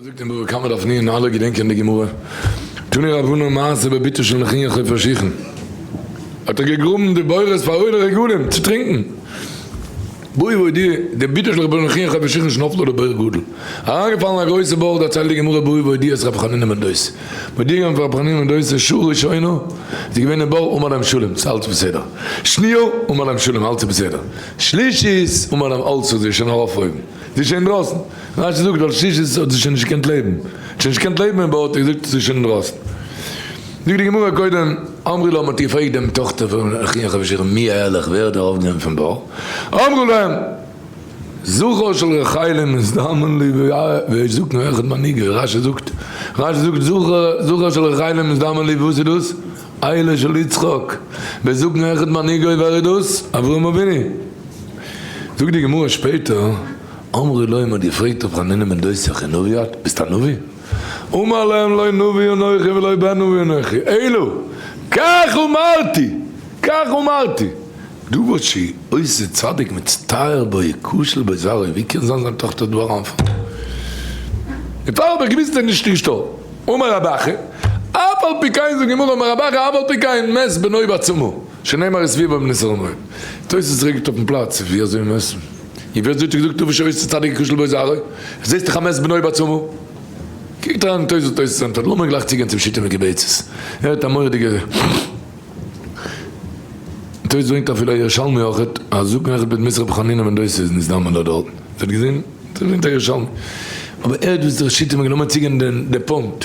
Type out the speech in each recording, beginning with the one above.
זאגט אין בבא קמא דף נין, אלע געדענקען די גמרא, תני רבנן מעשה בביתו של נחי' חופר שיחין, האט ער געגראבן די בורות פאר עולי רגלים צו טרינקן, בואי ועודי, די ביתו של רבנו נחי' חופר שיחין שנפלה לבור גדול, אריינגעפאלן א גרויסע בור, דערציילט די גמרא בואי ועודי אז רבי חנינא בן דוסא, מודיע געווען פאר רבי חנינא בן דוסא שעה ראשונה, ס'איז געווען אין בור אום עליהם שלום, ס'אלץ בסדר, שניה, אום עליהם שלום, אלץ איז בסדר, שלישית, אום עליהם אלץ איז שוין ארויף אויבן, ס'איז שוין אינדרויסן. רשי זאגט ווייל שישית האט זי שוין נישט געקענט לעבן, האט שוין נישט געקענט לעבן אין בארטי איז זאגט זי שוין אינדרויסן, זאגט די גמרא קודם אמרו להם האט געפרעגט דעם טאכטער פון אחי אחב שיכון מי אהליך ווער האט ארויף גענומען פון בור, אמרו להם זכר של רחל מזדמן לי ויזקנו אחד מנהיגי, רשי זאגט רשי זאגט זכר של רחל מזדמן לי וואס איז דאס? אהלה של יצחק, ויזקנו אחד מנהיגי ווער איז דאס? אברהם אבינו, זאגט די גמרא שפעטער. אמרי להם האט געפרעגט ר' חנינא בן דוסא כנביאט ביסט א נביא? אמר להם לא נביא אנכי ולא בן נביא אנכי אלא כך אמרתי כך אמרתי דבר שי' עושה צדיק מצטער בו יכשל בו זרעו ווי קען זיין זיין טאכטער דא אריינפאלן און פאר האב איך געוויסט אז נישט נישטא אמר רבא אחי אף על פי כן זאגט גמרא אמר רבא אחי אף על פי כן מת בנו בעצמו שנאמר איז ווי ביים נזהר מאוד. תוס' רעגט אויפן פלאץ ווי אזוי מען עסט. און ווי אזוי האט ער געזאגט אויב שוין עסט צדיק כושל בו זרעו, עס זעסט דיך א מעש בנוי בעצמו. קוקט אריין אין תוס' תוס' ענטפערט לאמיר גלייך צוגיין צום שיטה מיט געבעט ס'איז הערט א מורא'דיגע תוס' ברענגט אפילו א ירושלמי אויכעט אז זקן אחד בית מדרש רבי חנינא בן דוסא איז נזדמן דארט דארט איר האט געזען? אזוי ברענגט א ירושלמי אבער ער האט וואס דער שיטה מיר גענומען צוגיין די פונקט.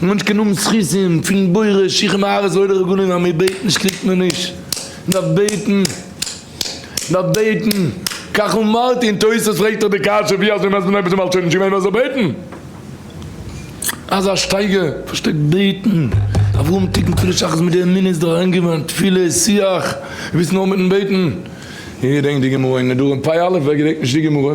די מענטש קען האבן זכותים פון בורא שיך און ארץ לויט די רגלים אז מיר בעטן נישט קריגט מען נישט, מען דארף בעטן, מען דארף בעטן, כך אמרתי און תוס' פרעגט דאך די קשיא ווי אזוי מייסט מען אויב איז די מלשין נישט געווען מ'זאל בעטן? אזא שטייגער פארשטייט בעטן, אברהם תיקן תפילת שחרית מיט די אמונה איז דאך אריינגעווען תפילה איז שיח, וויסן אויך מיטן בעטן, געדענק די גמרא אין נדרים פ' א, ווער געדענקט נישט די גמרא?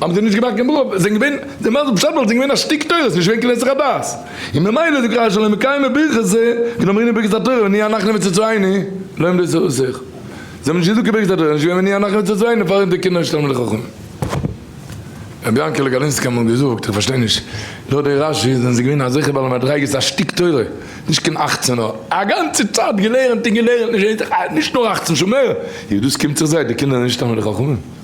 האבן זיי נישט געמאכט קיין ברוך זיי זענען געווען די מזל פשט וואלט זיי געווען א שטיק תורה עס איז נישט געווען כנסת חבד און ממילא זאגט רשי לא מקיימין ברכת זה ונאמרינן ברכת התורה ונהיה אנחנו מצאצאינו לא עמדו זיי אויסער זיי האבן נישט געזאגט קיין ברכת התורה עס איז נישט געווען ונהיה אנחנו מצאצאינו פארענט די קינדער נישט תלמידי חכמים רבי יענקעלע גאלינסקי האט אמאל געזאגט איך פארשטיי נישט לויט די רשי זענען זיי געווען אזעלכע בעלי מדריגות א שטיק תורה נישט קיין אכצען נאר א גאנצע צייט געלערנט און געלערנט נישט איין זאך נישט נאר אכצען שעה מער דאס קומט זיך זיי די קינדער זענען נישט תלמידי חכמים.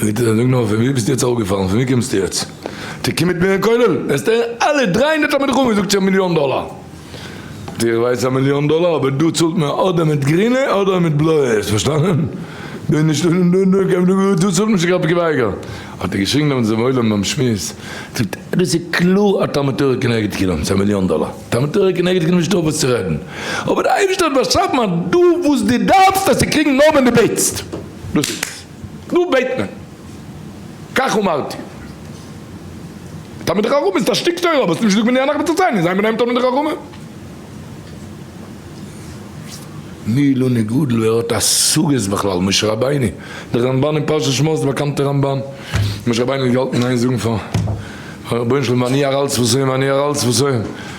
זאגט ער נאר פון ווי ביסטו יעצט אראפגעפאלן פון ווי קומסטו יעצט טו קום מיט מיר אין כולל וועסטו הערן אלע דרײַ הונדערט תלמידי חכמים זאגט זיך מיליאן דאלער זאגט ער איך ווייס א מיליאן דאלער אבער דא צאלט מען אדער מיט גרינע אדער מיט בלויע האסט פארשטאנען דא איז נישטא דא צאלט מען שוין קיין געווייגער האט ער געשריגן דעמאלטס דעם עולם ביים שמועס זאגט ער דאס איז קלאר א תלמוד תורה כנגד כולם ס'איז א מיליאן דאלער תלמוד תורה כנגד כולם נישטא וואס צו רעדן אבער די אייבערשטער האט באשאפן אז דו וואס דו דארפסט וועסטו קריגן נאר ווען דו בעטסט. דאס איז דא בעט מען כך אמרתי. תלמידי חכמים איז א שטיק תורה אבער עס איז נישט גענוג מנין אנחנו מצאצאיהם זיין ביניהם תלמידי חכמים. מי לא נגאל ווער האט השגות בכלל משה רבינו דער רמבן אין פרשת שמות דער באקאנטער רמבן משה רבינו האט געהאלטן איין זאגן פאר רבונו של עולם ואני ארעל שפתיהם ואני ארעל שפתיהם